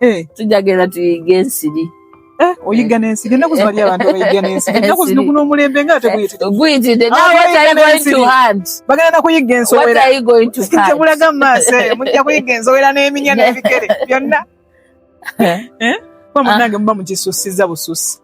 eh. tujja genda tuyige ensiri eh, oyiga n'ensiri ennaku zino waliyo abantu abayiga n'ensiri ennaku zino guno omulembe nga ate guyititeguyitide ah, bagenda nakuyiga ensowera tebulaga mu maaso eyo mujja kuyiga ensowera n'eminya n'ebikere byonna kuba munange muba mukisussiza bususi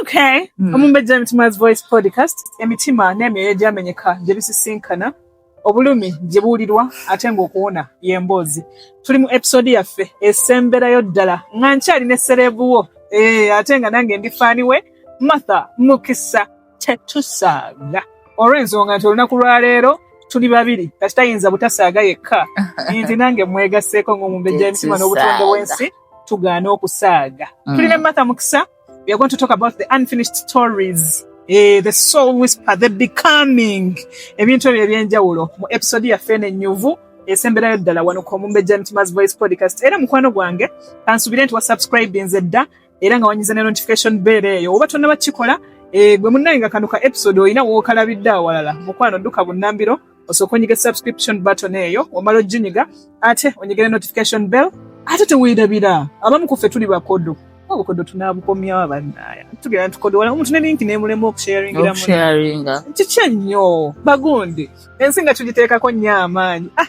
Okay. Mm. Omumbejja Emitima Voice Podcast, emitima n'emyoyo gyamenyeka gye bisisinkana, obulumi gye buwulirwa ate ng'okuwona y'emboozi. Tuli mu episode yaffe esemberayo ddala nga nkyali ne sereebu wo eh, ate nga nange ndi faani we Martha Mukisa. tetusaaga olw'ensonga nti olunaku lwaleero tuli babiri kati tayinza butasaaga yekka nti nange mwegasseeko ng'omumbejja emitima n'obutonde bw'ensi tugaana okusaaga mm. tulina matha mukisa we are going to talk about the unfinished stories eh, the soul whisper the becoming ebintu ebyo ebyenjawulo mu episode yaffe eno ennyuvu esemberayo ddala wano ku omumbejja mitima's voice podcast era mukwano gwange kansubire nti wasubscribinze dda era nga wanyiza ne notification bell eyo oba tonnaba kikola eh, gwe munnaye nga kano ka episode olina wookalabidde awalala mukwano dduka bunnambiro osooka onyiga subscription button eyo omala ojinyiga ate onyigire notification bell ate teweerabira abamu kuffe tuli bakodo obukodo tunabukomyawo bannaya tugenda tukodowala omuntu ne linki nemulema okusharingira kiki ennyo bagundi ensi nga tugiteekako nnyo amaanyi ah!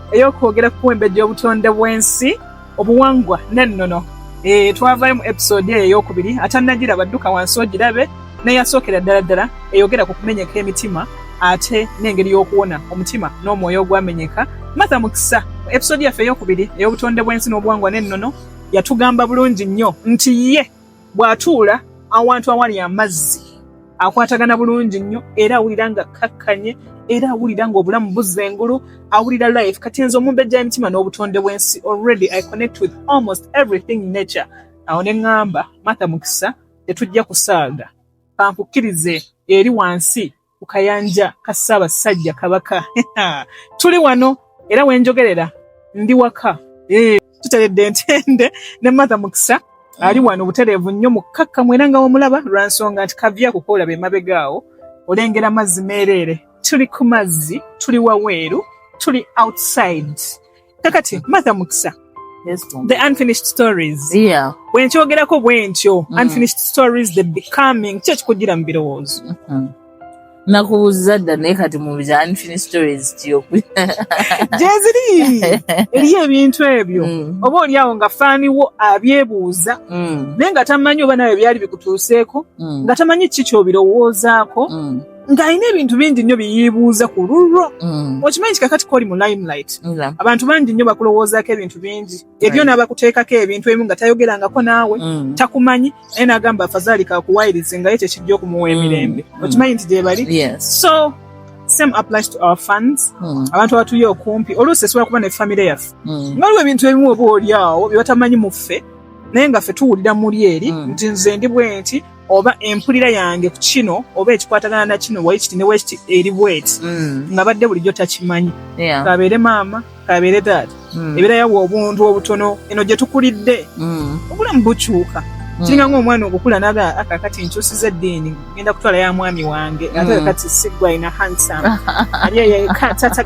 ey'okwogera ku kuwembejja obutonde bw'ensi obuwangwa n'ennono eh, twavaayo mu episode eyo ey'okubiri atannagira badduka wansi ogirabe neyasookera ddala ddala eyogera ku kumenyeka emitima ate n'engeri y'okuwona omutima n'omwoyo ogwamenyeka matha mukisa mu episode yaffe ey'okubiri ey'obutonde bw'ensi n'obuwangwa n'ennono yatugamba bulungi nnyo nti ye bw'atuula awantu awali amazzi akwatagana bulungi nnyo era awulira nga kkakkanye era awulira ng'obulamu buzza engulu awulira life kati nze omumbejja emitima n'obutonde bw'ensi already i connect with almost everything nature awo ne ŋŋamba martha mukisa tetujja kusaaga kankukkirize eri wansi ku kayanja ka Ssaabasajja Kabaka tuli wano era wenjogerera ndi waka eh, tuteredde ntende ne Martha Mukisa ali wano butereevu nnyo mukkakkamu era nga wamulaba lwa nsonga nti kavya kukoola be mabegaawo olengera mazzi meereere tuli ku mazzi tuli waweeru tuli outside kakati matha mukisa the unfinished stories yeah. wenkyogerako bwentyo mm. unfinished stories the becoming kyo kikugira mu birowoozo mm -hmm. nakubuuza dda naye kati mu bya unfinished stories kyoku gyeziri eriyo ebintu ebyo mm. oba oliawo nga faaniwo abyebuuza mm. naye nga tamanyi oba nawe byali bikutuuseeko mm. nga tamanyi ki kyobirowoozaako mm. ng'alina ebintu bingi nnyo byeyiibuuza ku lulwo mm. okimanyi nti kakati kooli mu limelight abantu bangi nnyo bakulowoozaako ebintu bingi ebyo n'abakuteekako ebintu ebimu nga tayogerangako naawe mm. takumanyi naye n'agamba afazaali kakuwayirize nga ye kyekijja okumuwa mm. emirembe okimanyi nti gyebali so same applies to our funds hmm. abantu abatuli okumpi oluusi esobola kuba ne famire yaffe hmm. nga waliwo ebintu ebimu oba olyawo byebatamanyi muffe naye nga ffe tuwulira muli eri hmm. nti nze ndi bwenti oba empulira yange ku kino oba ekikwatagana na kino waikiti ne wekiti eri bweti mm. nga badde bulijjo takimanyi kabeere maama kabeere taata mm. ebeera yawa obuntu obutono eno gye tukulidde mm. obulamu bukyuka kiringa ngaomwana okukula naga akakati nkyusiza eddiini genda kutwala ya mwami wange ate kakati sigwa ina handsome ali eyo eka tata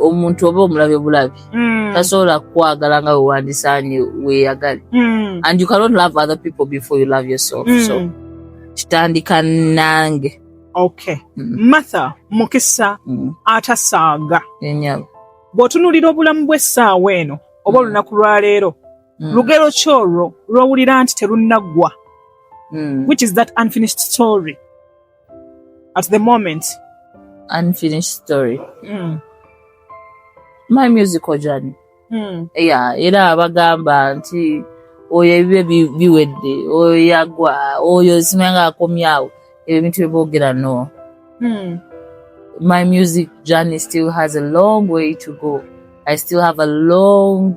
omuntu oba omulabe bulabi mm. tasobola kukwagala nga wewandisaanye weyagale mm. and you cannot love other people before you love yourself mm. so kitandika nange okay mm. matha mukisa mm. atasaaga enyabo bw'otunuulira obulamu bw'essaawa eno oba mm. olunaku lwaleero mm. lugero ki olwo lw'owulira nti terunnaggwa mm. which is that unfinished story at the moment unfinished story mm. my musical journey mm. yeah, era abagamba nti oyo ebibe biwedde oyo yagwa oyo simanga akomyawo ebyo ebintu byeboogera no hmm. my music journey still has a long way to go i still have a long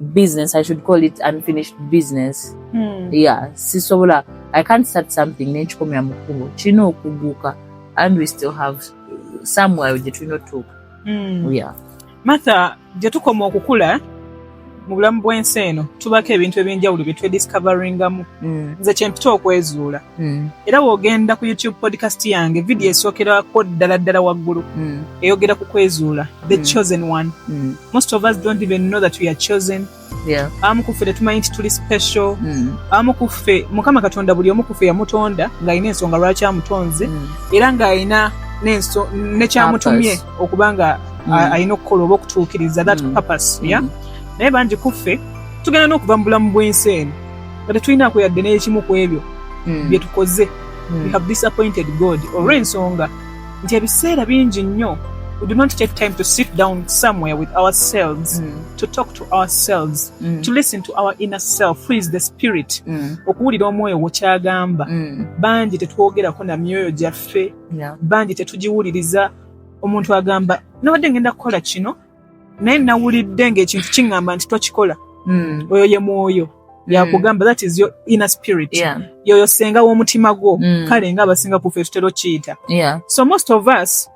business i should call it unfinished business hmm. yeah sisobola i can't start something nenkikomera mu kkubo kirina okuguuka and we still have somewhere gye tulina otuuka hmm. yeah martha gye tukoma okukula mu bulamu bw'ensi eno tubaako ebintu ebyenjawulo bye twediscoveringamu hmm. nze kyempita okwezuula mm. era wogenda ku youtube podcast yange vidiyo mm. esookerako ddala ddala waggulu mm. eyogera ku kwezuula the mm. chosen one mm. most of us don't even know that we are chosen yeah. abamu kuffe tetumanyi nti tuli special mm. abamu kuffe mukama katonda buli omu kuffe yamutonda ng'alina ensonga lwaki amutonze mm. era ng'alina nekyamutumye okuba nga mm. alina okukola oba okutuukiriza that mm. purpose yeah? mm. naye bangi kuffe tugenda n'okuva mu bulamu bw'ensi eno nga tetulinaako yadde n'ekimu ku ebyo hmm. bye tukoze hmm. we have disappointed god olw'ensonga nti ebiseera bingi nnyo we do not take time to sit down somewhere with ourselves mm. to talk to ourselves mm. to listen to our inner self who is the spirit mm. okuwulira omwoyo gwokyagamba mm. bangi tetwogerako na myoyo gyaffe yeah. bangi tetugiwuliriza omuntu agamba nabadde ngenda kukola kino naye nawulidde ng'ekintu kiŋŋamba nti tokikola hmm. oyo ye mwoyo hmm. yakugamba that is your inner spirit yoyo senga w'omutima gwo hmm. kale nga abasinga kufe tutera okiyita so most of us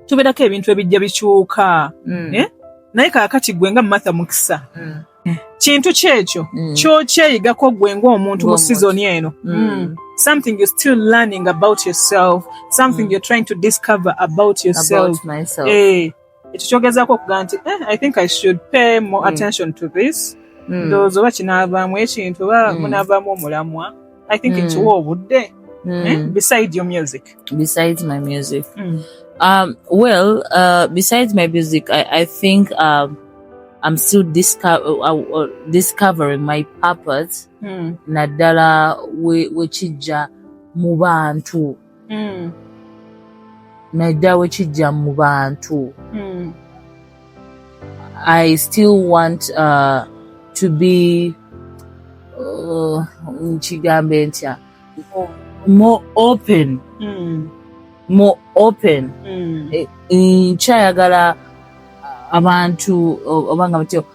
tubeerako ebintu ebijja bikyuka eh? naye kakati gwe nga martha mukisa kintu kyekyo kyokyeyigako gwe ngaomuntu mu sizoni eno something you're still learning about yourself something you're trying to discover about yourself about myself. Eh, ekyo kyogezaako okuga nti eh, i think i should pay more mm. attention to this mm. ndowooza oba kinaavaamu ekintu oba mm. munaavaamu omulamwa i think mm. kiwa obudde mm. eh? beside your music beside my music mm. um, well uh, besides my music i, I think um, I'm still disco- uh, uh, uh discovering my purpose mm. naddala wekijja we mu bantu mm. naddala wekijja mu bantu mm. i still want uh, to be uh, nkigambe uh, ntya more open mm. more open mm. e, nkyayagala abantu obanga mutyo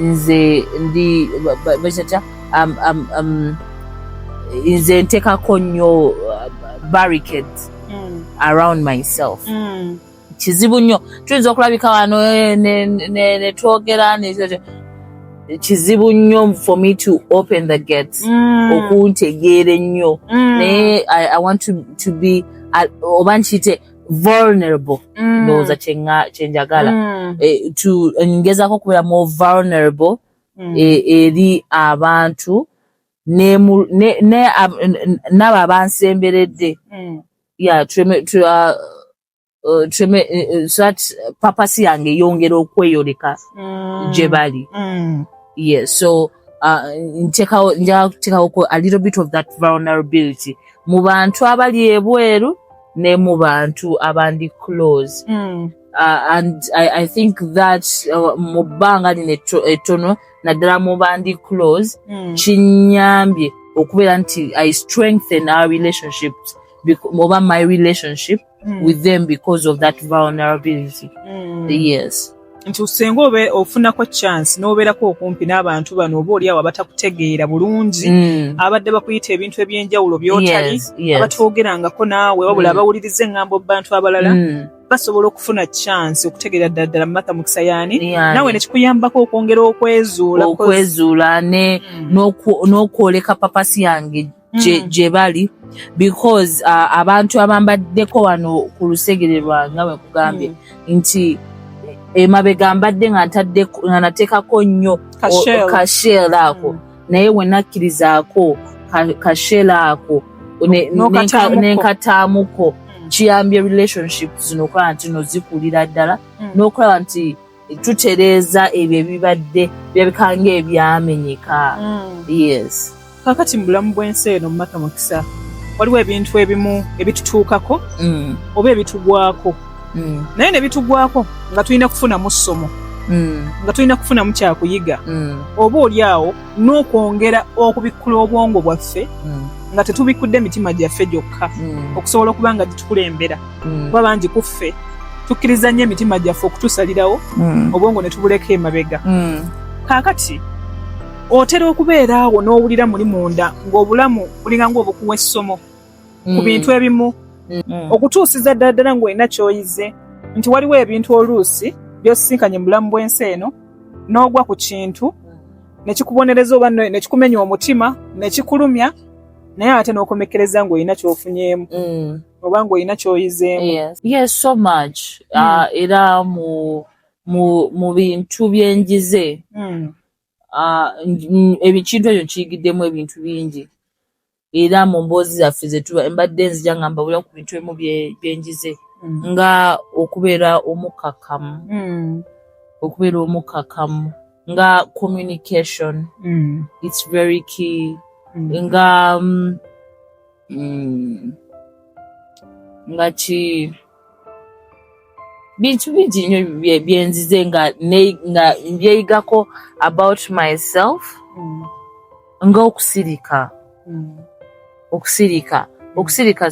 nze ndi bakyakya um, um, um, nze ntekako nnyo uh, barricade mm. around myself mm. kizibu nnyo tuyinza okulabika wano eh, netwogera kizibu nnyo for me to open the gates mm. okuntegeera ennyo mm. naye i want to, to be oba nkiyite vulnerable mm. ndowooza kyenjagala mm. eh, ngezako okubeera mu vulnerable mm. eh, eri abantu n'abo abansemberedde papasi yange eyongera okweyoleka gye bali yes so uh, ntekawo njakutekawoko a little bit of that vulnerability mu bantu abali ebweru ne mu bantu abandi close mm. uh, and I, I think that uh, mu bbanga lino ettono naddala mu bandi close mm. kinyambye okubeera nti i strengthen our relationships oba my relationship mm. with them because of that vulnerability mm. yes nti usenga obe ofunako chance n'obeerako okumpi n'abantu bano oba oliawo abatakutegeera bulungi mm. abadde bakuyita ebintu eby'enjawulo byotali yes, yes. abatwogerangako naawe wabula mm. abawuliriza engambo bantu abalala mm. basobola okufuna chance okutegeera ddala ddala mumatha mukisa yaani naawe nekikuyambako okwongera okwezuula okwezuula mm. n'okwoleka papasi yange gye mm. bali because uh, abantu abambaddeko wano ku lusegere lwange we kugambye mm. nti emabega mbadde nga nateekako nnyo kashel ako mm. naye we nakkirizaako kashel ako nenkataamuko kiyambye relationship zino okulaba nti no zikulira ddala n'okulaba nti tutereeza ebyo ebibadde birabika ng'ebyamenyeka mm. yes kakati mu bulamu bw'ensi eno mumata mukisa waliwo ebintu ebimu ebitutuukako mm. oba ebitugwako mm. naye ne bitugwako nga tulina kufunamu ssomo Mm. nga tulina kufunamu kyakuyiga mm. oba oli awo n'okwongera okubikkula obwongo bwaffe mm. nga tetubikkudde mitima gyaffe gyokka okusobola okuba nga gitukulembera mm. kuba bangi ku ffe tukkiriza nnyo emitima gyaffe okutusalirawo mm. obwongo ne tubuleka emabega mm. kaakati otera okubeera awo n'owulira muli munda ng'obulamu bulinga ng'obukuwa essomo ku bintu ebimu okutuusiza ddala ddala ng'olina ky'oyize nti waliwo ebintu oluusi by'osisinkanye mu bulamu bw'ensi eno n'ogwa ku kintu ne kikubonereza oba ne kikumenya omutima ne kikulumya naye ate n'okomekkereza ng'olina ky'ofunyeemu oba ng'olina kyoyizeemu yes. yes so much mm. uh, era mu mu mu bintu byenjize mm. uh, ebikintu ekyo nkiyigiddemu ebintu bingi era mu mboozi zaffe zetuba mbadde nzija nga mbabulira ku bintu emu byenjize mm. nga okubeera omukkakkamu mm. okubeera omukkakkamu nga communication mm. its very key mm. nga um, mm. nga ki bintu bingi nyo byenzize nga nga byeyigako about myself mm. nga okusirika mm. okusirika okusirika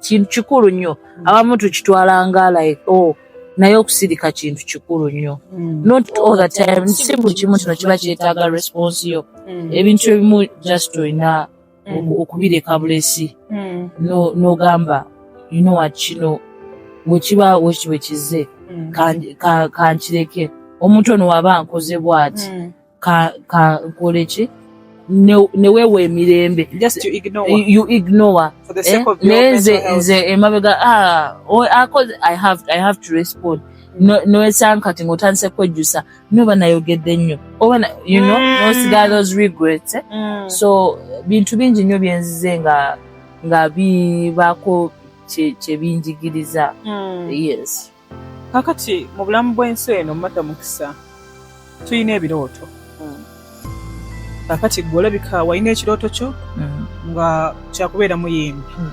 kintu kikulu nnyo mm. abamu tukitwala nga like oh naye okusirika kintu kikulu nnyo mm. not all the time si buli kimu kino kiba kyetaaga response yo mm. ebintu ebimu just olina mm. okubireka bulesi mm. nogamba you know what kino wekiba weki wekize mm. kankireke ka, ka omuntu ono waba nkoze bwati mm. kankole ki newewa emirembe you ignore eh? naye nze nze emabega ah, i have to respond mm. nowesankati ngaotandise kwejjusa no banayogedde nnyo oba you know mm. nosigala those regrets eh? mm. so bintu bingi nnyo byenzize nga nga bibaako kyebinjigiriza mm. yes kakati mu bulamu bw'ensi eno mata mukisa tulina ebirooto kakati gwe olabika walina ekirooto kyo mm. nga kyakubeera muyimbi mm.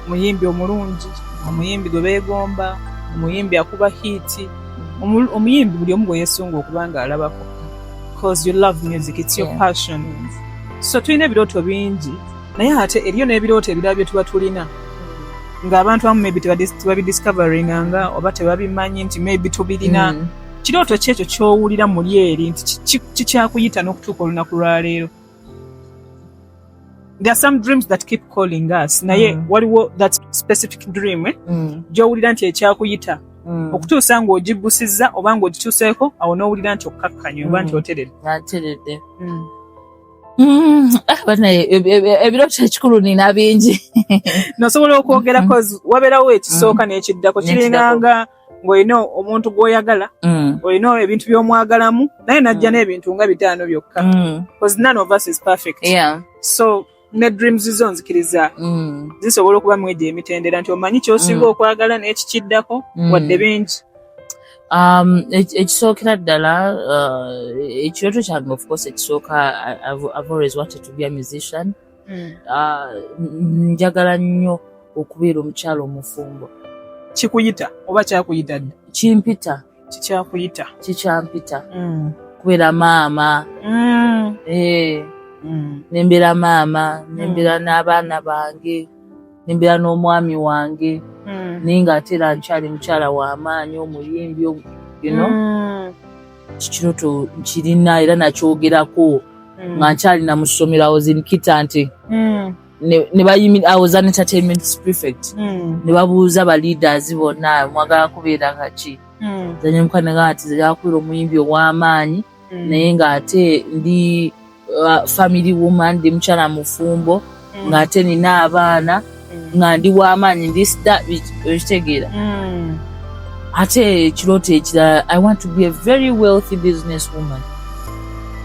muyimbi omulungi omuyimbi gwe beegomba omuyimbi akuba hiiti mm. omuyimbi buli omu gwe yesunga okuba nga alabako bcause you love music its your passion so tulina ebirooto bingi naye ate eriyo n'ebirooto ebirala bye tuba tulina ng'abantu abamu maybe tebabidiscoveringa nga oba tebabimanyi nti maybe tubirina kirooto ki ekyo ky'owulira muli eri nti kikyakuyita n'okutuuka olunaku lwa leero there are some dreams that keep calling us naye mm. waliwo that specific dream eh? mm. gy'owulira nti ekyakuyita mm. okutuusa ng'ogibusizza oba ng'ogituuseeko awo n'owulira nti okkakkanya oba nti mm. oteredde mm. Mm, ah, banaye ebirooto eh, eh, ekikulu nina bingi nosobola okwogera mm-hmm. wabeerawo ekisooka n'ekiddako kiringanga ng'olina omuntu gw'oyagala mm. olina ebintu by'omwagalamu naye najja mm. n'ebintu nga bitaano byokka mm. because none of us is perfect yeah. so ne dreams zo nzikiriza mm. zisobola okuba mwejo emitendera nti omanyi kyosinga mm. okwagala n'ekikiddako mm. wadde bingi um, ekisookera ddala uh, ekirooto kyange ofcourse ekisooka i've always wanted to be a musician hmm. ah, njagala nnyo okubeera omukyala omufumbo kikuyita oba kyakuyita dda kimpita kikyakuyita kikyampita hmm. kubeera maama hmm. eh. nembeera maama nembeera n'abaana bange nembeera n'omwami wange naye nga ate era nkyali mukyala w'amaanyi omuyimbi you know kikirooto nkirina era nakyogerako hmm. nga nkyali namusomero awozinkita nti hmm. nebayimiraawozanetertainment prefect hmm. nebabuuza baleaders bonna mwagala kubeera kaki zanyemukanaga nti zakubeera omuyimbi ow'amaanyi naye ng'ate ndi uh, family woman ndi mukyala mufumbo mm. ng'ate nina abaana mm. nga ndi w'amaanyi ndi sita ekitegeera mm. ate ekirooto ekirala i want to be a very wealthy business woman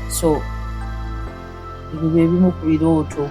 so ebyo bye bimu ku birooto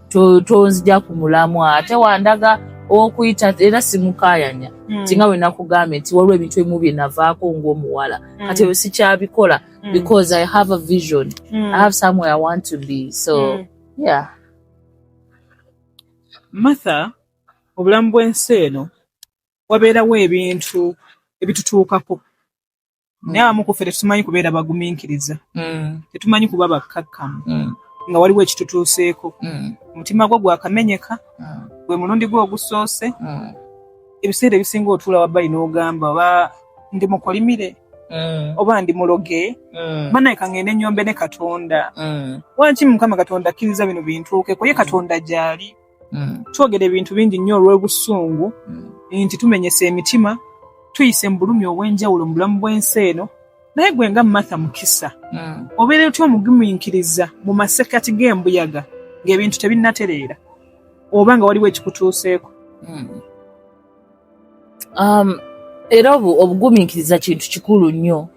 tonzija ku mulamwa ate wandaga okuyita era simukayanya hmm. tinga we nakugambye nti waliwo ebintu ebimu bye navaako ng'omuwala hmm. kati ebyo sikyabikola hmm. because i have a vision i have somewhere i want to be so yeah martha obulamu bw'ensi eno wabeerawo ebintu ebitutuukako naye abamu ku ffe tetumanyi kubeera bagumiikiriza tetumanyi kuba bakkakkamu nga waliwo ekitutuuseeko omutima gwo gwakamenyeka gwe mulundi gwe ogusoose ebiseera ebisinga otuula wabbali n'ogamba oba ndi mukolimire Mm. oba ndi muloge mm. banaye kangende enyombe ne katonda mm. waki mukama katonda akkiriza bino bintuukeko ye katonda gyali Mm. twogera ebintu bingi nnyo olw'obusungu mm. nti tumenyesa emitima tuyise mu bulumi obw'enjawulo mu bulamu bw'ensi eno naye gwe nga martha mukisa mm. obeera otya omugumiikiriza mu masekati g'embuyaga ng'ebintu tebinnatereera oba nga waliwo ekikutuuseeko um, era obugumiikiriza kintu kikulu nnyo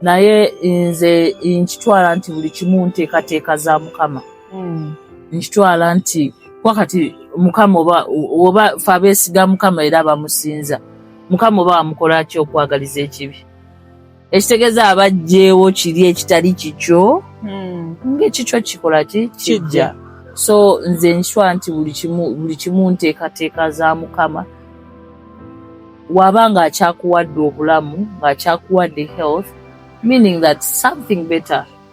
naye nze nkitwala nti buli kimu nteekateeka za mukama hmm. nkitwala nti wakati mukama oba oba fe abeesiga mukama era abamusinza mukama oba wamukolaki okwagaliza ekibi ekitegeeza abajjeewo kiri ekitali kikyo hmm. ngaekikyo kikola ki kijja so nze nkitwa nti buli kimu nteekateeka za mukama waba ng'akyakuwadde obulamu ng'akyakuwadde health meaning that something better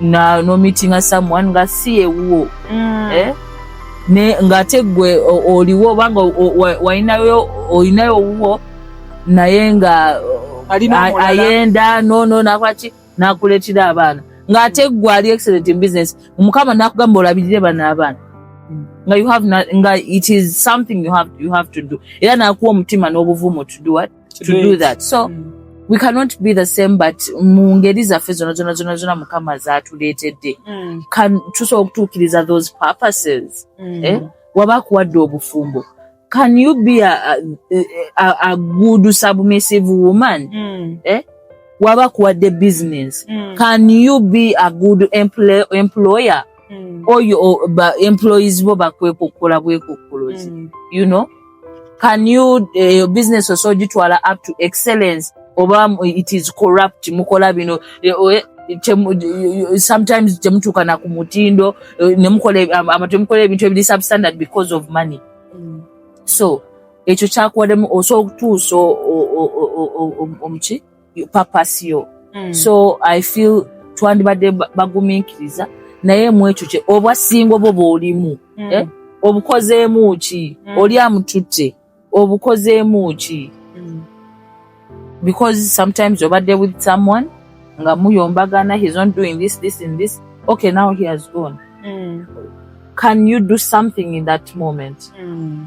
na no meeting someone nga si ewuwo mm. eh? ne ngate gwe oliwo obanga walinayo olinayo owuwo naye nga ayenda nono nakwaki nakuletera abaana ngate gwe ali excellent in business mukama nakugamba olabirire bana abaana mm. nga you have not, nga it is something you have, you have to do era nakuwa omutima n'obuvumu to do what to, to do that so mm. we cannot be the same but mu ngeri zaffe zona zona zona zona mukama zatuleetedde mm. tusobola okutuukiriza those purposes mm. eh? waba akuwadde obufumbo can you be a, a, a, a good submissive woman mm. eh? waba akuwadde business mm. can you be a good employer mm. oyo ba employees bo bakwekukula bwekukulozi mm. you know can you uh, your business also gitwala up to excellence oba it is corrupt mukola bino eh, eh, sometimes temutuuka na ku mutindo eh, nemukola ebintu ebiri substandard because of money mm. so ekyo kyakuwademu osobola okutuusa omuki yo purpose yo mm. so i feel twandibadde bagumiikiriza naye mwekyo kye obwasingo bwo bwolimu mm. eh? obukozeemu ki mm. oli amututte obukozeemu ki mm. because sometimes obadde with someone nga muyombagana he's not doing this this and this okay now he has gone mm. can you do something in that moment mm.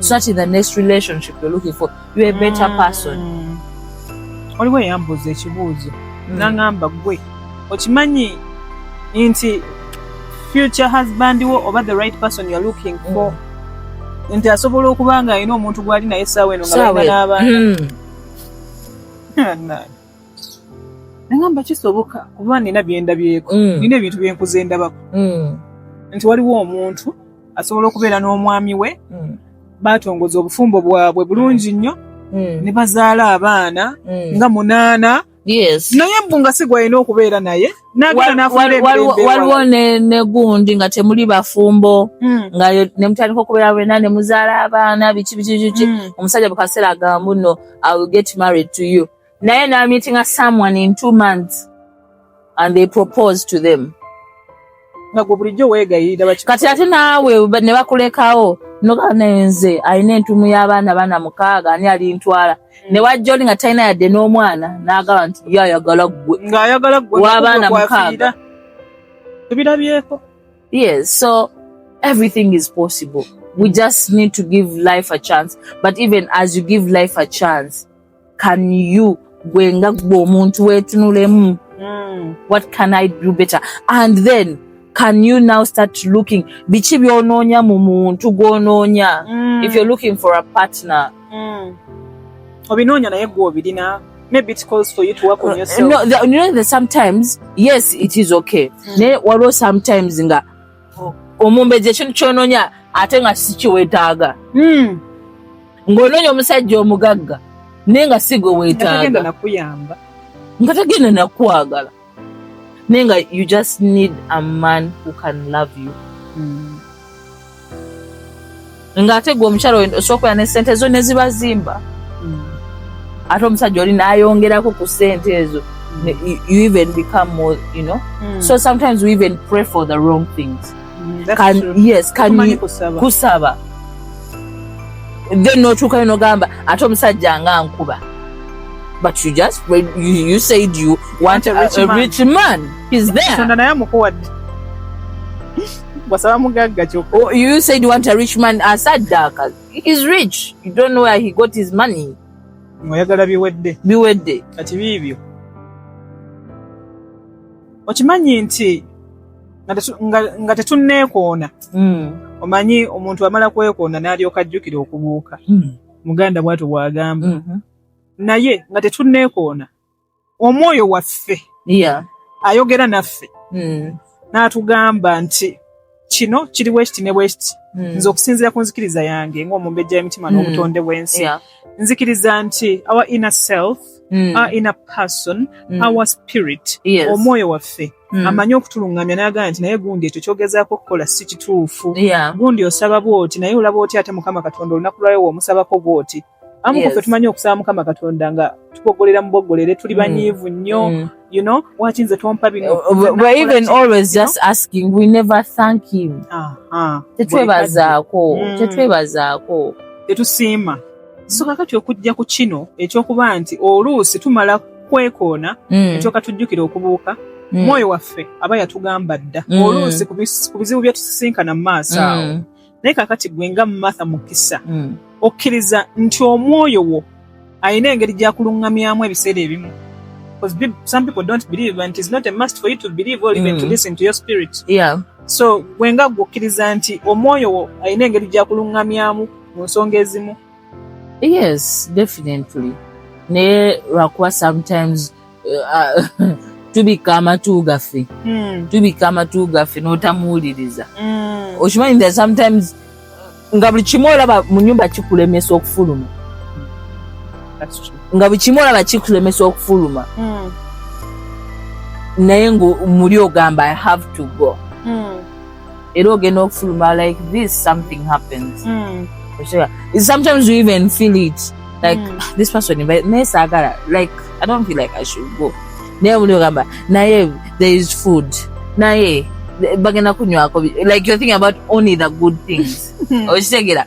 so that in the next relationship you're looking for you're a better mm. person oliwo eyambuuza ekibuuzo mm. nangamba gwe okimanyi nti future husband wo oba the right person you're looking mm. for mm. nti asobola okuba nga alina omuntu gwali naye saawa eno ngabaina n'abaana mm. nangamba kisoboka kuba nina byendabyeko mm. nina ebintu byenkuza endabako mm. nti waliwo omuntu asobola okubeera n'omwami we mm. baatongoza obufumbo bwabwe bulungi nnyo mm. ne bazaala abaana mm. nga munaana yes naye mbu nga si gwalina okubeera naye waliwo ne gundi nga temuli bafumbo mm. nga ne mutandika okubeera bwena ne muzaala abaana biki biki biki mm. omusajja bukaseera agambu no i will get married to you naye namitinga someone in two months and they propose to them nagwe bulijjo wegayirira baki kati ate naawe ba- ne bakulekawo noga naye nze alina entumu y'abaana baana mukaaga ani alintwala ne wajja oli nga talina yadde n'omwana n'agamba nti ye ayagala ggwe ng'ayagala gwe W'abaana nakugwe mukaaga. kwafiira. tubirabyeko yes so everything is possible we just need to give life a chance but even as you give life a chance can you gwe nga gwe omuntu wetunulemu hmm. what can i do better and then can you now start looking biki byonoonya mu muntu gwonoonya mm. if you're looking for a partner mm. obinoonya naye gwe obirina maybe it calls for you to work on uh, yourself no, the, you know that sometimes yes it is okay mm. naye waliwo sometimes nga omumbejja ekintu kyononya ate nga sikiwetaaga hmm. ng'ononya omusajja omugagga naye nga si gwe weetaaga nga tagenda nakwagala naye nga you just need a man who can love you mm. ng'ate gwe omukyalo osobola ne sente ezo ne ziba zimba mm. ate omusajja oli n'ayongerako ku sente ezo you even become more, you know. Mm. So sometimes we even pray for the wrong things. Mm, can true. yes, can you kusaba. kusaba. Then no chuka no gamba ate omusajja nga nkuba. But you just you, you said you want, want a, rich, a, a man. rich man. He's there. wasaba mugagga kyokka oh, you said you want a rich man asaddaaka is rich you don't know where he got his money oyagala biwedde biwedde kati biibyo okimanyi nti nga tetunneekoona hmm. omanyi omuntu amala kwekoona n'alyoka ajjukira okubuuka hmm. muganda bwatyo bwagamba mm-hmm. naye nga tetunneekoona omwoyo waffe yeah. ayogera naffe mm. n'atugamba nti kino kiri bwekiti ne bwekiti mm. nze okusinziira ku nzikiriza yange ng'omumbejja y'emitima mm. n'obutonde bw'ensi yeah. nzikiriza nti our inner self mm. our inner person mm. our spirit yes. omwoyo waffe Mm. amanyi okutulungamya nagamba nti naye gundi ekyo kyogezaako okukola si kituufu yeah. gundi osaba bwoti naye olaba oti ate mukama katonda olunaku lwayo womusabako bwoti amu yes. kufe tumanyi okusaba mukama katonda nga tukogolera mubogolere tuli mm. banyiivu nnyo mm. you know waki nze tompa bino uh, uh, we're even always just asking we never thank him tetwebazaako mm. tetwebazaako tetusiima so kakati okujja ku kino ekyokuba nti oluusi tumala kwekoona ekyoka tujjukira okubuuka mwoyo waffe aba yatugamba dda oluusi ku bizibu byetusisinkana mu maaso awo naye kakati gwe nga martha mukisa mm. okkiriza nti omwoyo wo alina engeri gyakuluŋŋamyamu ebiseera ebimu some people don't believe and it's not a must for you to believe or even mm. to listen to your spirit yeah. so gwe nga gwe okkiriza nti omwoyo wo alina engeri gyakuluŋŋamyamu mu nsonga ezimu yes definitely naye lwakuba sometimes tubikka amatu gaffe hmm. tubikka amatu gaffe n'otamuwuliriza hmm. okimanyi that sometimes nga buli kimu olaba mu nyumba kikulemesa okufuluma nga buli kimu olaba kikulemesa okufuluma hmm. naye nga muli ogamba i have to go era ogenda okufuluma like this something happens mm. sometimes you even feel it like mm. Ah, this person naye saagala like i don't feel like i should go naye muli ogamba naye there is food naye bagenda kunywako like you're thinking about only the good things okitegera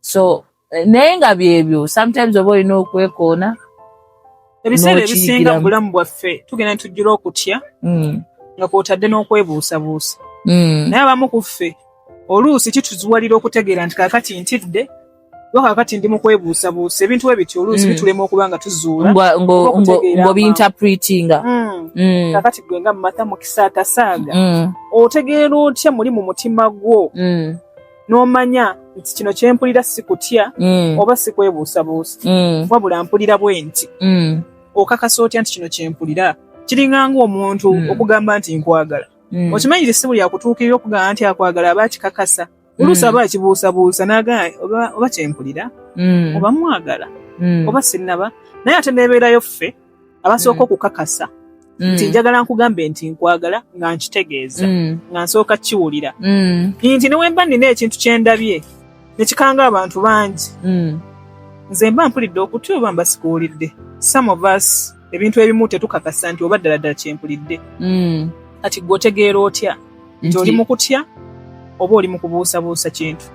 so eh, naye nga byebyo sometimes oba olina okwekoona ebiseera ebisinga mu bulamu bwaffe tugenda tujjula okutya mm. nga kwotadde n'okwebuusabuusa mm. naye abamu ku ffe oluusi kituziwalira okutegeera nti kakati ntidde oba kakati ndi mu kwebuusabuusa ebintu we bityo oluusi mm. bitulema okuba nga tuzuula ngobinterpretinga mm. mm. kakati gwe nga mumatha mukisa atasaaga otegeera otya muli mu mutima gwo n'omanya nti kino kye mpulira si kutya mm. oba si kwebuusabuusa mm. wabula mpulira bwenti mm. okakasa otya nti kino kye mpulira kiringa ng'omuntu mm. okugamba nti nkwagala mm. okimanyi nti si buli akutuukirira okugamba nti akwagala aba akikakasa mm. oluusi aba akibuusabuusa n'agamba oba, oba kye mpulira mm. oba mwagala mm. oba sinnaba naye ate neebeerayo ffe abasooka mm. okukakasa mm. nti njagala nkugambe nti nkwagala nga nkitegeeza mm. nga nsooka kiwulira mm. nti newemba nina ekintu kyendabye nekikanga abantu bangi mm. nze mba mpulidde okuty oba mba sikuwulidde some of us ebintu ebimu tetukakasa nti oba ddala ddala kyempulidde mm. kati gwe otegeera otya nti oli mu kutya oba oli mu kubuusabuusa kintu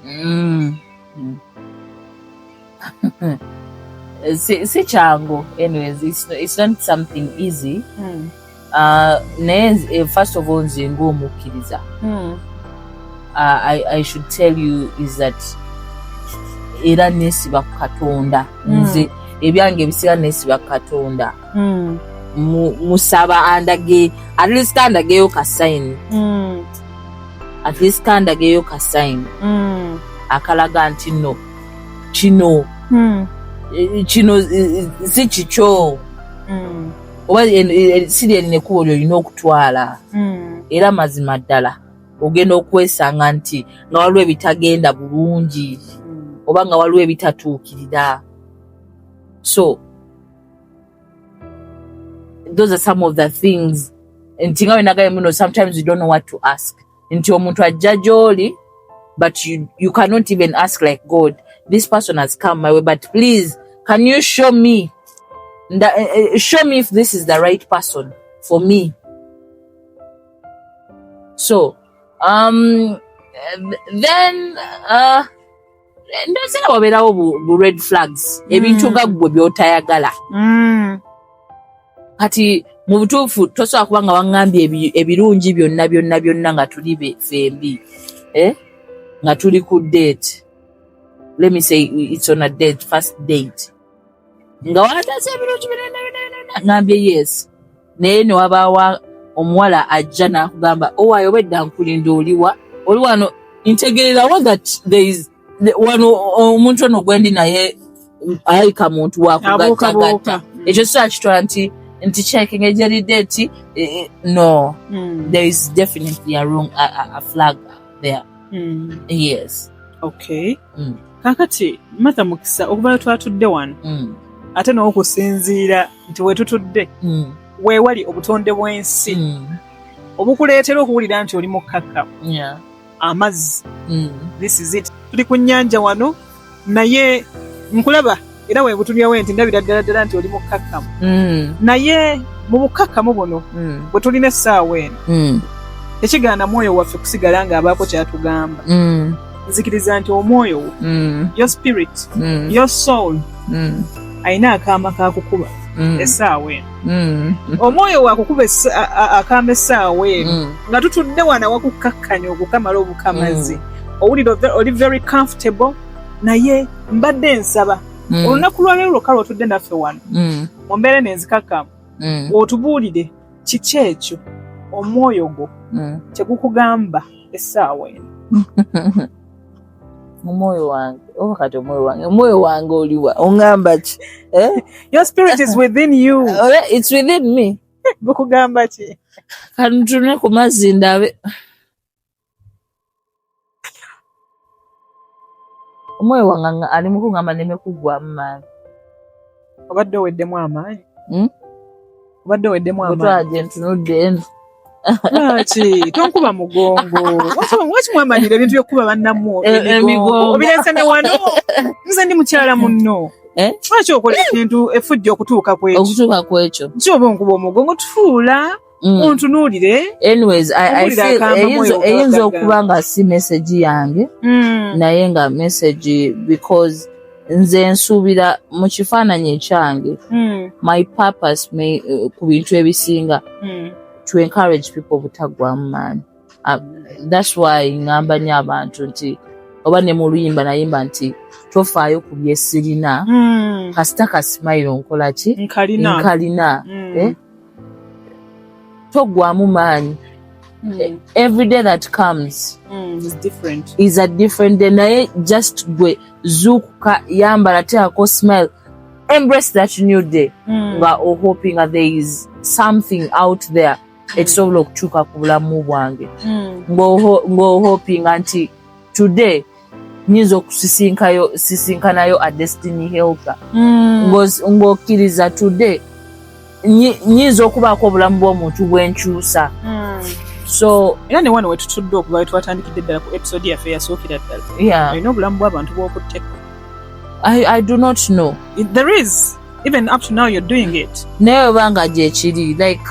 mm. mm. si, si kyangu anyways it's, it's not something easy mm. uh, naye eh, first of all nze ngaomukkiriza mm. uh, I, i should tell you is that era nesiba ku katonda hmm. nze ebyange ebisira nesiba ku katonda hmm. musaba andage at least andageyo ka sign hmm. at least kandageyo ka sign akalaga nti no kino hmm. eh, kino eh, eh, si kikyo hmm. oba si lyerina ekkubo lyolina okutwala hmm. era mazima ddala ogenda okwesanga nti nga waliwo ebitagenda bulungi oba nga waliwo ebitatuukirira so those are some of the things nti nga wenagaye muno sometimes you don't know what to ask mm. nti omuntu ajja gyoli but you, you cannot even ask like god this person has come my way but please can you show me the, uh, eh, eh, show me if this is the right person for me so um then uh ndozi nga wabeerawo bu red flags mm. ebintu nga ggwe byotayagala mm. kati mu butuufu tosobola kuba nga waŋŋambye ebirungi byonna byonna byonna nga tuli fembi eh? nga tuli ku date let me say it's on a date first date nga wataasa ebirungi birenda birenda ngambye yes naye newabaawa omuwala ajja n'akugamba owaayo oh, obedda nkulinda oliwa oli wano ntegeererawo that there is wano omuntu ono gwendi naye ayika muntu wakugattagatta ekyo si akitwa nti nti checking ejeridde nti e, e, no hmm. there is definitely a wrong a, a, a flag there hmm. yes okay hmm. kakati matha mukisa okuvayo twatudde wano mm. ate n'okusinziira nti wetutudde mm. weewali obutonde bw'ensi mm. obukuleetera okuwulira nti oli mukkakka amazzi mm. this is it tuli ku nnyanja wano naye nkulaba era webutumyawo nti ndabira ddala ddala nti oli mukkakkamu mm. naye mu bukkakkamu buno mm. bwe tulina essaawa eno mm. tekigaana mwoyo waffe kusigala ng'abaako kyatugamba nzikiriza nti omwoyo wo your spirit your soul alina akaama kakukuba essaawa eno omwoyo wakukuba akaama essaawa eno nga tutudde wana wakukkakkanya okukamala obukamazi owulira oli very comfortable naye mbadde nsaba mm. olunaku lwaleero lwokka lwotudde naffe wano mm. mu mbeera nenzikakkamu mm. otubuulire kiki ekyo omwoyo gwo mm. kyegukugamba essaawa eno omwoyo wange oba kati omwoyo wange omwoyo wange oliwa ongamba ki eh? your spirit is within you oh, yeah, it's within me gukugamba ki kanutune ku mazzi ndabe omwoyo wange ali mukungamba neme kuggwamu maanyi obadde oweddemu amaanyi hmm? obadde oweddemu amaanyi ntunudde eno lwaki tonkuba mugongo waki mwamanyira ebintu byokukuba bannamu e, emigongo obirese ne wano nze ndi mukyala munno eh? lwaki okola ekintu efujja okutuuka kwekyo okutuuka kwekyo kyoba onkuba omugongo tufuula mm. ontunuulire anyways I, I feel eyinza okuba nga si message yange mm. naye nga message because nze nsuubira mu kifaananyi ekyange mm. my purpose may, uh, ku bintu ebisinga mm. to encourage people obutaggwamu maani uh, that's why ngamba nyo abantu nti oba ne mu luyimba nayimba nti tofaayo ku byesirina mm. kasita kasimayiro nkolaki nkalina mm. eh? togwamu maanyi mm. E, every day that comes mm, is different. is a different day naye just gwe zuukuka yambala teako smile embrace that new day mm. nga mm. ohoping that there is something out there mm. ekisobola okutuuka ku bulamu bwange mm. ng'ohopinga nti today nyinza okusisinkanayo a destiny helper mm. ng'okkiriza today nyinza okubaako obulamu bw'omuntu bwenkyusa mm. so era ne wano wetutudde okuva wetwatandikidde ddala ku episode yaffe yasookera ddala olina obulamu bw'abantu bw'okutteko I, I do not know. There is. even up to now you're doing it naye obanga gyekiri like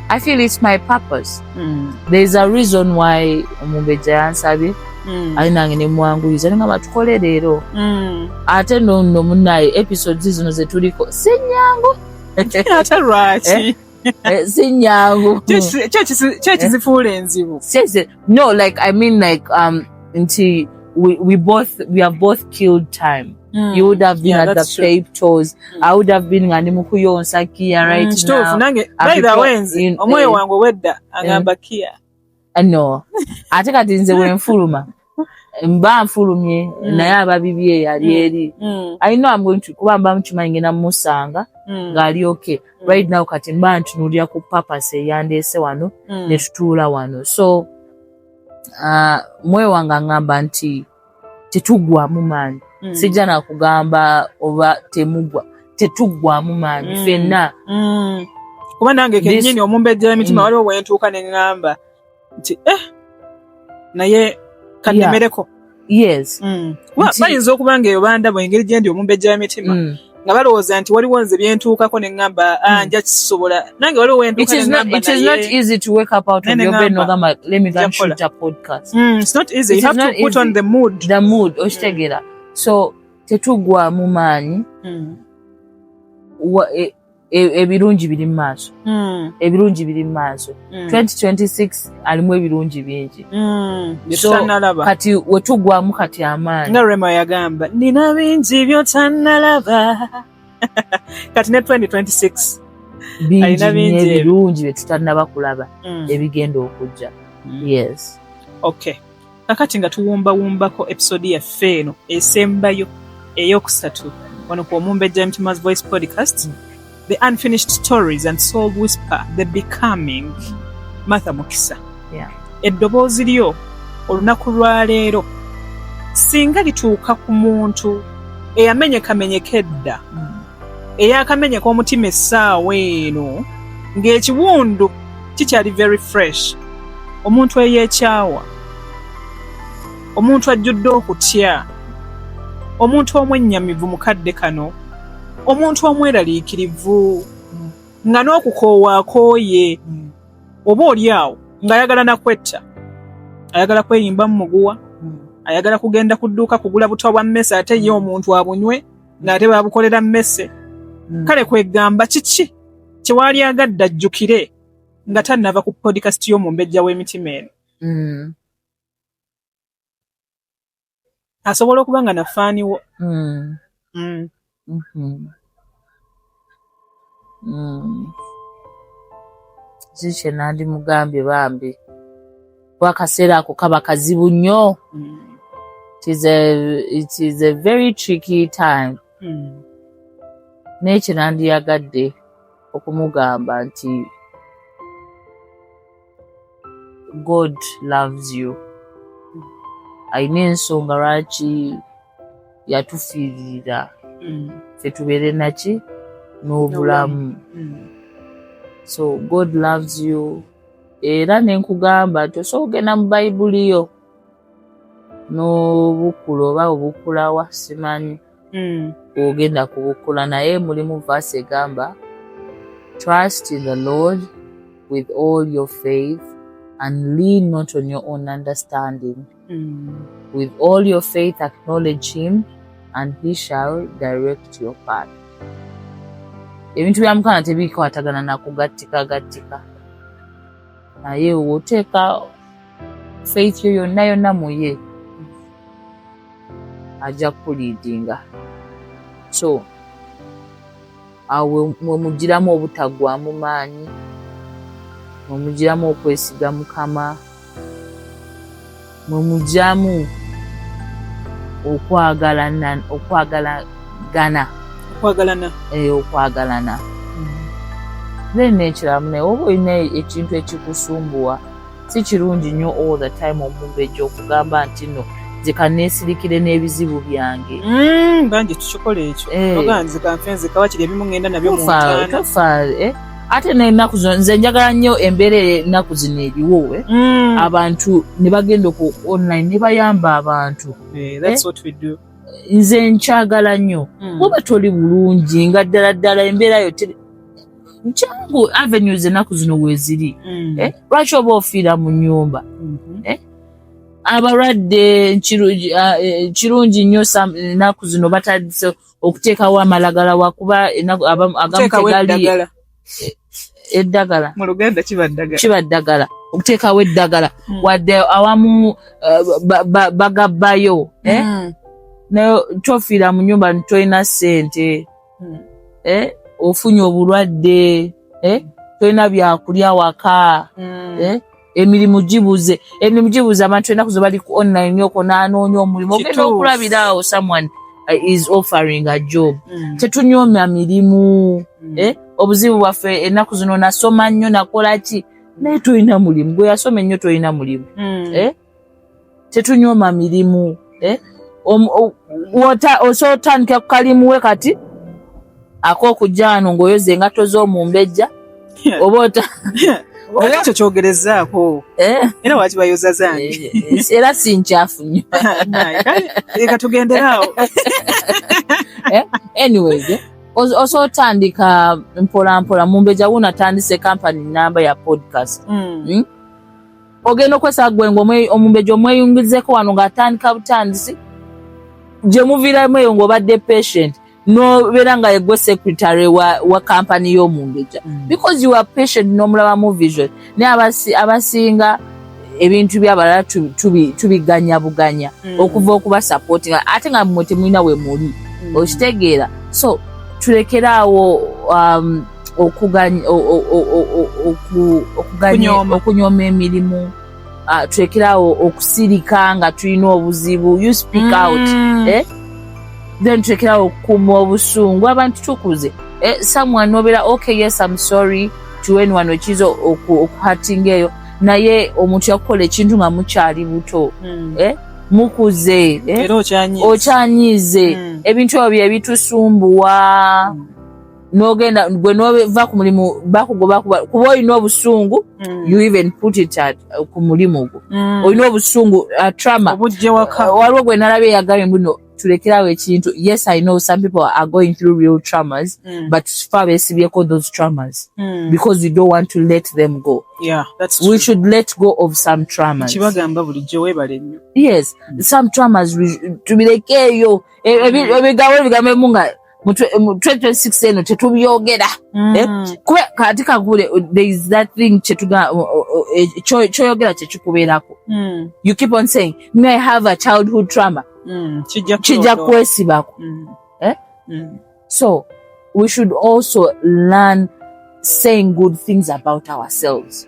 i feel it's my purpose mm. there's a reason why omumbejja yansabye mm. ali nange nemwanguyiza ninga batukole leero mm. ate nono munaye episodes zino zetuliko sinyangu ate lwaki eh? Eh, sinyangu kyekizifuula eh? enzibu no like i mean like um nti we, we both we have both killed time Mm. You would have been yeah, at the true. pape toes. Mm. I would have been ngani mukuyonsa kia right mm, now. Kitufu nange by the way nzi omwe wangu wedda angamba eh. kia. no ate kati nze wenfuluma mba nfulumye mm. naye ababibye yali mm. eri mm. i know i'm going to kuba mba mukimanyi ngenda mumusanga mm. ngaali okay mm. right now kati mba ntunulira ku papasi eyandeese wano mm. netutuula wano so uh, mwewa nga ngamba nti tetugwamu maanyi mm. sijja nakugamba oba temugwa tetugwamu maanyi mm. fenna mm. kuba nange kenyini omumbejjera emitima mm. waliwo wentuuka ne ŋŋamba nti eh naye kannemereko yeah. yes mm. bayinza okuba nga eyo bandabo engeri gyendi omumbejjera emitima mm. nga balowooza nti waliwo nze byentuukako ne ŋŋamba ah, hmm. nja kisobola nange waliwo wentuukakitegeera hmm. so tetugwamu maanyi hmm. eh, e- ebirungi biri mu maaso Mm, ebirungi biri mu maaso mm, 2026 alimu ebirungi bingi mm. Bye So, tutannalaba. kati wetugwamu kati amaanyi nga rema yagamba nina bingi byotannalaba kati ne 2026 bingi alina bingi ebyo. n'ebirungi bye tutanaba kulaba Mm, ebigenda okujja mm. yes okay Kakati nga tuwumbawumbako episode yaffe eno esembayo eyokusatu wano ku Omumbejja Mtima's Voice Podcast, mm. The Unfinished Stories and Soul Whisper, The Becoming, Martha Mukisa. Yeah. Eddoboozi lyo olunaku lwa leero singa lituuka ku muntu eyamenyekamenyeka edda mm. eyakamenyeka omutima essaawa eno ng'ekiwundu kikyali very fresh omuntu eyekyawa omuntu ajjudde okutya omuntu omwennyamivu mu kadde kano omuntu omweraliikirivu nga n'okukoowa akooye oba oli awo ng'ayagala nakwetta ayagala kweyimba mu muguwa ayagala kugenda ku dduuka kugula butwa bwa mmesa ate ye omuntu abunywe ng'ate baabukolera mmese hmm. kale kwegamba kiki kyewali agadde ajjukire nga tannava ku podikasti y'omumbejja w'emitima eno hmm. asobola okuba nga nafaaniwo hmm. mm-hmm. Mm. zikye nandi mugambye bambi kuba akaseera ako kaba kazibu nnyo mm. it is a very tricky time mm. naye kye nandiyagadde okumugamba nti god loves you alina ensonga lwaki yatufiirira mm. fe tubeere naki n'obulamu mm. so god loves you era nenkugamba nti osobola okugenda mu bayibuli yo n'obukula oba obukulawa simanyi mm. ogenda kubukula naye mulimu vaasi egamba trust in the lord with all your faith and lean not on your own understanding mm. with all your faith acknowledge him and he shall direct your path ebintu bya mukama tebikwatagana nakugattika gattika naye woteeka faith yo yonna yonna muye ajja kukuliidinga so awo mwemugiramu obutaggwamu maanyi mwemugiramu okwesiga mukama mwemugiramu okwagalana okwagalagana okwagalana eh, okwagalana mm. then nekiramu naye oba olina ekintu ekikusumbuwa Si kirungi nnyo all the time omumbejja okugamba nti no nze kaneesirikire n'ebizibu byange mm, bangi tukikola ekyo eh. oga nze kanfe nze kawa kiri ebimu ngenda nabyo muntaanatofa eh? ate nenaku zino nze njagala nnyo embeera enaku zino eriwo eh? mm. abantu ne bagenda oku online ne bayamba abantu nze nkyagala nnyo mm. oba toli bulungi nga ddala ddala embeera yo nkyangu avenues ennaku zino weziri mm. eh, lwaki oba ofiira mu nyumba mm-hmm. eh, abalwadde ah, eh, kirungi nnyo ennaku zino batandise okuteekawo amalagala wakuba agamu tegaliye eddagala mu luganda kiba ddagala kiba ddagala okuteekawo eddagala hmm. wadde awamu uh, bagabbayo eh? hmm. naye tofiira mu nyumba ntolina ssente hmm. eh, ofunye obulwadde eh, tolina byakulya waka hmm. eh, emirimu gibuze emirimu gibuze abantu enaku ze bali ku online yoko nanoonya omulimu ogenda okulabira awo someone eh, is offering a job hmm. tetunyomya mirimu eh, obuzibu bwaffe enaku zino nasoma nnyo nakola ki naye tolina mulimu gwe yasoma ennyo tolina mulimu eh? tetunyoma mirimu eh? osobola otandika ku kalimu we kati ak'okujaano ng'oyoza engatto z'omumbejja oba ota ekyo kyogerezaako eh? era waki bayoza zange eh, eh, era si nkyafu nyo leka tugenderaawo anyways oso otandika mpolampola mumbeja wona atandise kampani namba ya podcast mm. Mm? ogenda okwesaba gwe ngaomumbejja omweyungizeko wano ngaatandika butandisi gyemuviiramu eyo ngaobadde patient nobeera nga yegwe secretary wa, wa kampany y'omumbejja mm. because you are patient nomulaba mu vision naye abasinga abasi ebintu byabalala tubiganya buganya mm. okuva okuba sapoti nga ate nga mwe temulina we muli mm. okitegeera so tulekeraawo um, okunyooma emirimu ah, twekerawo okusirika nga tulina obuzibu you speak mm. out eh? then twekerawo okukuuma obusungu abantu tukuze eh, someone nobera okay yes im sorry tuweni wano kiza okuhatinga eyo naye omuntu yakukola ekintu nga mukyali buto mm. eh? mukuze eh? okyanyize mm. ebintu ebyo byebitusumbuwa mm. nogenda gwe nova ku mulimu bakugoba kuba olina obusungu mm. you even put it at uh, ku mulimu gwo mm. olina obusungu uh, trama uh, waliwo gwe nalabye yagambye mbuno tulekerawo ekintu yes i know some people are going through real traumas mm. but fa besibyeko those traumas mm. because you don't want to let them go yeah, that's true. we should let go of some traumas kibagamba bulijjo webale nnyo yes mm. some traumas tubirekeeyo e, e, ebigambo ebigambo ebimu nga mu 2026 eno tetubyogera mm. eh, kuba kati kagule uh, there is that thing kyetuga uh, uh, eh, kyoyogera kyekikubeerako mm. you keep on saying may have a childhood trauma mm. kijja kwesibako eh? so we should also learn saying good things about ourselves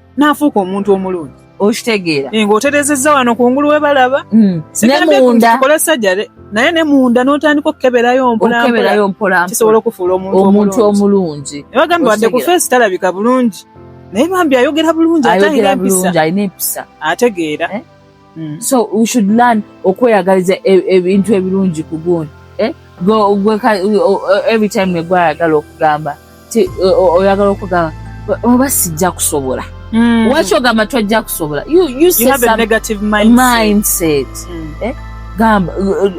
n'afuuka omuntu omulungi okitegeera eh, ng'oterezezza wano kungulu we balaba hmm. sigambekola sajare naye ne munda n'otandika okukeberayo mpolampokisobola okufuula omuntu omulungi nebagamba wadde ku feesi talabika bulungi naye bambi ayogera bulungi alina empisa ategeera eh? mm. so we should learn okweyagaliza e, ebintu ebirungi ku gundi eh? every time negwayagala okugamba oyagala okugamba oba sijja kusobola mm. waki ogamba twajja kusobola mindset mm. eh? gamba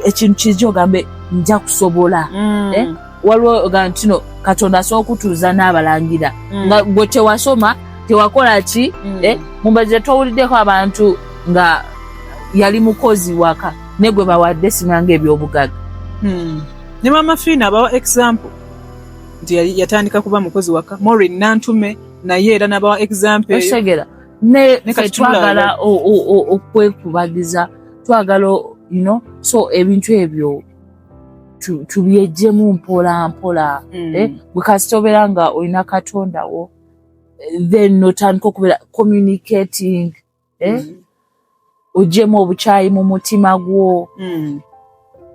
ekintu kija ogambe nja kusobola eh? waliwo ga ntino katonda asobola okutuuza n'abalangira mm. nga gwe tewasoma tewakola ki mm. eh, mumbaze towuliddeko abantu nga yali mukozi waka ne gwe bawadde sinanga ebyobugaga mm. ne mama fiina abawa example nti yatandika kuba mukozi waka morin nantume naye era nabawa example osegera ne twagala okwekubagiza twagala you know so ebintu ebyo tubyejjemu mpola mpola mm. eh, bwekasita obeera nga olina katonda wo eh, then notandika okubeera communicating eh, mm. ojjemu obukyayi mu mutima gwo mm.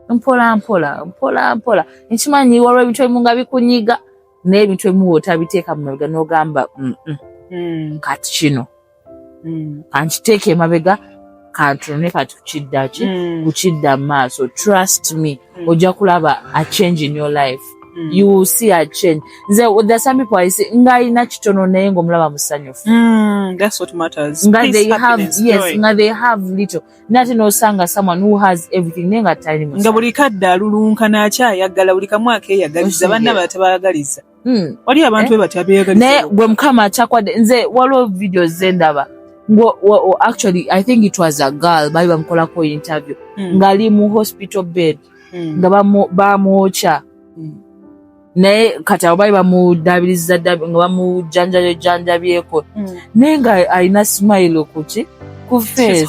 mpola mpola mpola mpola nkimanyi waliwo ebintu ebimu nga bikunyiga naye ebintu ebimu otabiteeka mu mabega nogamba kati kino mm. kankiteeka emabega kantunune kati kukiddaki mm. kukidda mu maaso trust me mm. ojja kulaba a change in your life Mm. you will see a change nze there some people i say nga ina kitono naye ngo mulaba musanyufu mm, that's what matters nga they have yes nga they have little nati no sanga someone who has everything nenga tali nga buli kadda lulunka na cha yagala buli kamwa ke yagaliza bana batabagaliza Hmm. wali abantu eh? bebatya beyagalisa naye gwe mukama akyakwadde nze waliwo videos ze ndaba actually i think it was a girl baali bamukolako interview mm. ngaali mu hospital bed mm. nga bamwokya mm. naye kati abo baali bamudabiriza nga bamujanjayo janjabyeko mm. naye nga alina smile kuki ku face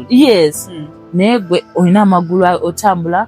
yes mm. naye gwe olina amagulu otambula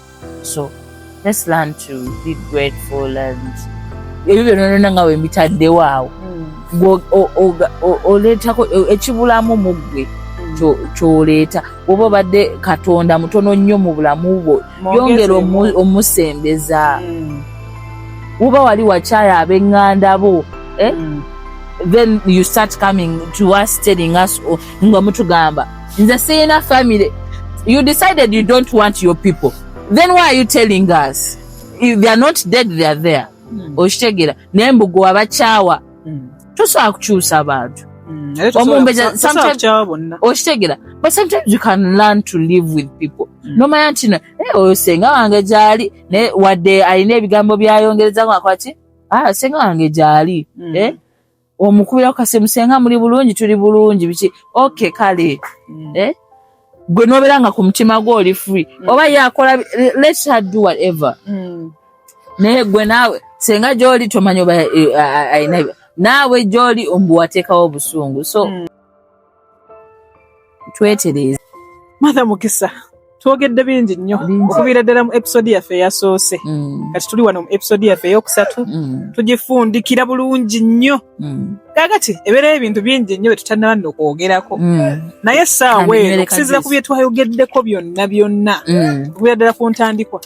so let's learn to be grateful and ebyo byona nona nga wembitaddewo awo oleetako ekibulamu mu ggwe kyoleeta oba obadde katonda mutono nnyo mu bulamu bwo yongera omusembeza uba mm. wali wakyaya abenganda bo eh? mm. then you start coming to us telling us oh, nga mutugamba nze siyina family you decided you don't want your people then why are you telling us if they are not dead they are there hmm. okitegera naye mbugo wabakyawa hmm. tosobola kukyusa abantu hmm. omumbeza okitegera but sometimes you can learn to live with people mm. nomanya ntino eh, oyo senga wange gyali naye wadde alina ebigambo byayongereza ngakwati ah, senga wange gyali mm. eh? omukubira kukasimu senga muli bulungi tuli bulungi biki ok kale mm. eh? gwe nobeera nga ku mutima gwe oli free mm. oba yakola let her do whatever mm. naye gwe naawe senga gyoli tomanya oba eh, eh, eh, naawe gyoli ombu wateekawo obusungu so mm. twetereeze matha mukisa twogedde bingi nnyo okuviira ddala mu episode yaffe eyasoose mm. kati tuli wano mu episode yaffe eyokusatu mm. tugifundikira bulungi nnyo mm. kakati ebeerayo ebintu bingi nnyo byetutanaba nno okwogerako naye essaawa eno okusinzira ku byetwayogeddeko byonna byonna okuviira ddala ku ntandikwa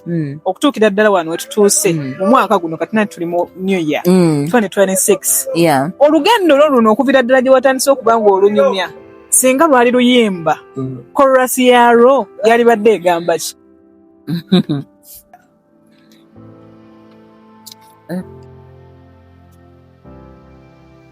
okutuukira ddala wano tuuse mm. mu mwaka guno kati nati tuli mu new year 2026 mm. olugendo lwo luno okuvira ddala gye watandise okuba nga olunyumya singa lwali luyimba mm. korasi yalwo yalibadde egamba ki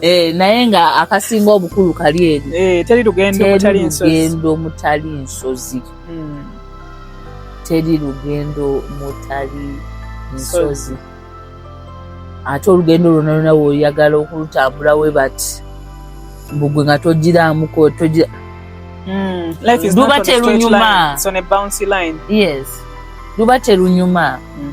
Eh, naye nga akasinga obukulu kali eri eh, teri lugendo mutali nsozi hmm. teri lugendo mutali nsozi ate olugendo lwona lwona woyagala okulutambula we bati mbugwe nga togiramuko togira hmm, luba terunyuma yes luba terunyuma mm.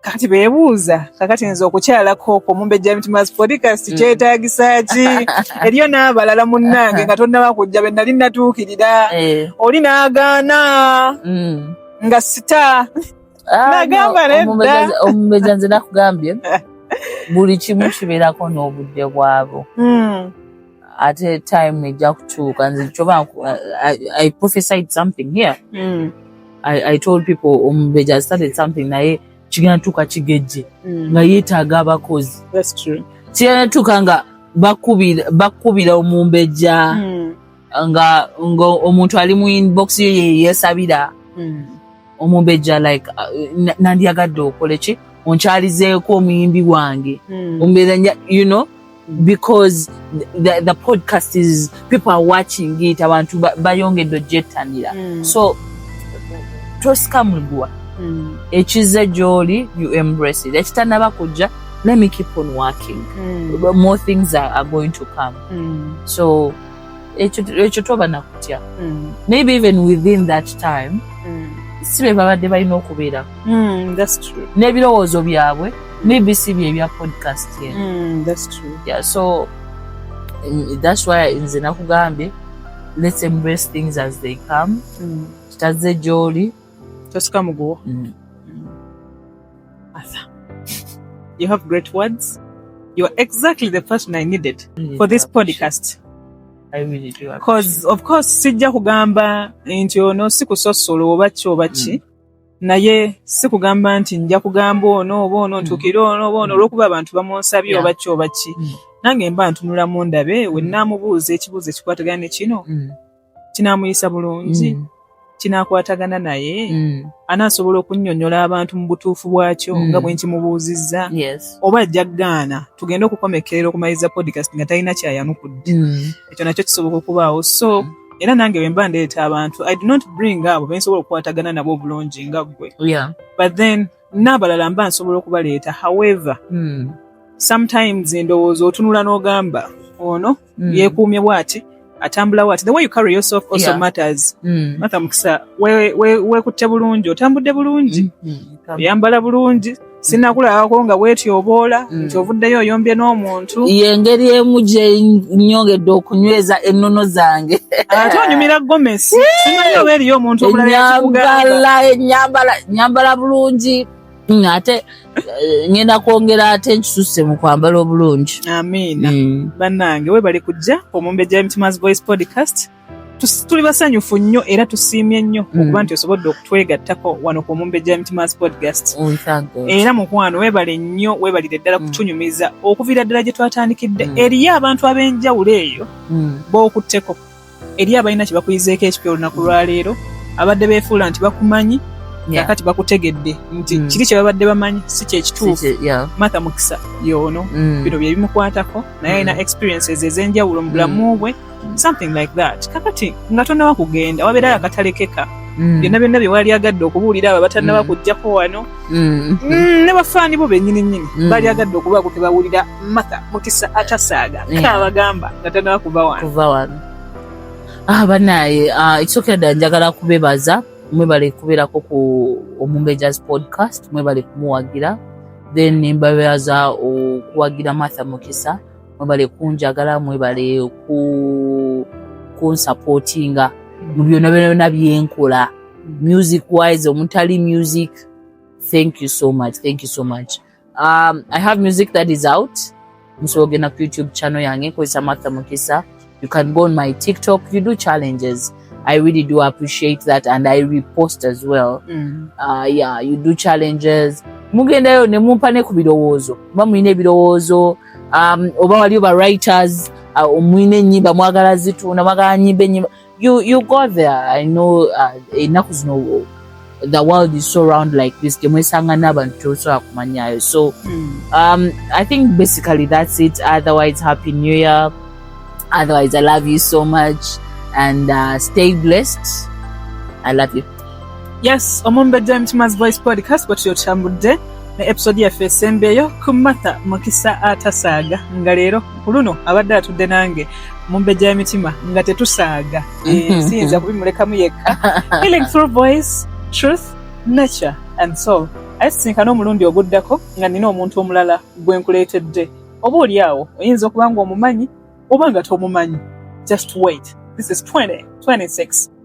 kati bebuuza kakati nze okukyalako okwo mumbejja mitimas podcast mm. kyetagisa ki eriyo n'abalala munnange nga tonnaba kujja be nali natuukirira eh. oli n'agaana mm. nga sita ah, nagamba nedda omumbeja nze nakugambye buli kimu kibeerako n'obudde bwabo hmm. ate time ejja kutuuka nze kyoba i prophesied something here mm. I, i told people omubeja um, started something naye kigenda tuuka kigejje mm. nga yeetaaga abakozi kigenda tuuka nga bakubira omumbejja mm. nga omuntu ali mu inbox yo yeyesabira mm. omumbejja like uh, nandyagadde okole ki onkyalizeeko omuyimbi wange hmm. ombeera you know because the, the podcast is people are watching it abantu bayongedde ojettanira hmm. so tosika muguwa hmm. ekizze gyoli you embrace it ekitanaba kujja let me keep on working more things are, are going to come so ekyo toba nakutya mm. maybe even within that time mm. si be babadde balina okubeera mm, n'ebirowoozo byabwe maybe si bye ebya podcast yeah, so that's why nze nakugambye let's embrace things as they come kitazze gyoli tosika muguwo mm. Arthur, you have great words you are exactly the person i needed mm. for this podcast because of course sijja kugamba nti ono si kusosola oba ki oba ki mm. naye si kugamba nti nja kugamba ono oba ono mm. ntuukire ono oba ono mm. olwokuba abantu bamunsabye oba ki oba ki nange mba ntunulamu ndabe wenaamubuuza ekibuuzo ekikwatagana ne kino kinaamuyisa bulungi mm. kinakwatagana naye mm. anaasobola okunnyonnyola abantu mu butuufu bwakyo mm. nga bwenkimubuuzizza yes. oba ajja gaana tugende okukomekkerera okumaliriza podcast nga talina kyayanukudde mm. ekyo nakyo kisoboka okubaawo so mm. era nange wemba ndeeta abantu i do not bring abo bensobola okukwatagana nabo obulungi nga ggwe yeah. but then n'abalala mba nsobola okubaleeta however mm. sometimes endowooza otunula n'ogamba ono mm. yekuumye bwati atambula wati the way you carry yourself also yeah. matters mm. matha mukisa wekutte we, we bulungi otambudde bulungi mm. mm. oyambala bulungi sinakulabako nga wetyoboola mm. nti ovuddeyo oyombye n'omuntu yengeri emu gyenyongedde okunyweza ennono zange ate onyumira gomesi simanyi oba eriyo omuntu omulalaenyambala bulungi Mm, ate eh, ngenda kwongera ate nkisusse mu kwambala obulungi amiina mm. bannange webale kujja omumbejja w'emitima's voice podcast tuli basanyufu nnyo era tusiimye nnyo mm. okuba nti osobodde okutwegattako wano ku omumbejja w'emitima's podcast oh, era mukwano webale nnyo webalire ddala mm. kutunyumiza okuviira ddala gye twatandikidde eriyo abantu ab'enjawulo eyo bookutteko eri abalina kye bakuyizeeko ekipya olunaku lwaleero abadde beefuula nti bakumanyi kakati bakutegedde nti mm. kiri kye babadde bamanyi si kyekituufu matha mukisa yoono mm. bino bye bimukwatako naye alina mm. experiences ez'enjawulo mu bulamu bwe something like that kakati nga tonawa kugenda wabeerayo akatalekeka Mm. byonna byonna byewali agadde okubuulira abo abatannaba mm. kujjako wano mm. ne bafaani bo bennyini nnyini bali agadde okubaako tebawulira maka mukisa atasaaga yeah. kaabagamba nga tanaba kuva wano kuva wano ah banaye ah, ekisokedda njagala kubebaza mwebale kubeerako ku omumbejaz podcast mwebale kumuwagira then mbabebaza okuwagira martha mukisa mwebale kunjagala mwebale ku kunsupportinga mu byona byona byenkola music wise omutali music thank you so much thank you so much Um, I have music that is out. Msoge na YouTube channel yange kwa Samantha Mukisa. You can go on my TikTok. You do challenges. I really do appreciate that and I repost as well. Mm. Uh, yeah, you do challenges. Mugendayo ne mumpa ne ku birowoozo. Mba mulina ebirowoozo um, oba waliyo ba writers uh, omwine uh, enyimba mwagala zitunda mwagala nyimba enyimba you you go there i know uh, enaku zino the world is so round like this temwesanga n'abantu tosobola kumanyayo so hmm. um, i think basically that's it otherwise happy new year otherwise i love you so much and uh, stay blessed i love you yes omumbejja w'emitima's voice podcast bwe tuyo tutambudde ne episode yaffe esembeeyo ku matha mukisa atasaaga nga leero ku luno abadde atudde nange mumbejja y'emitima nga tetusaaga eh, siyinza kubimulekamu yekka healing through voice truth nature and soul aye sisinkana omulundi oguddako nga nina omuntu omulala gwe nkuleetedde oba oli awo oyinza okuba nga omumanyi oba nga tomumanyi just wait this is 2026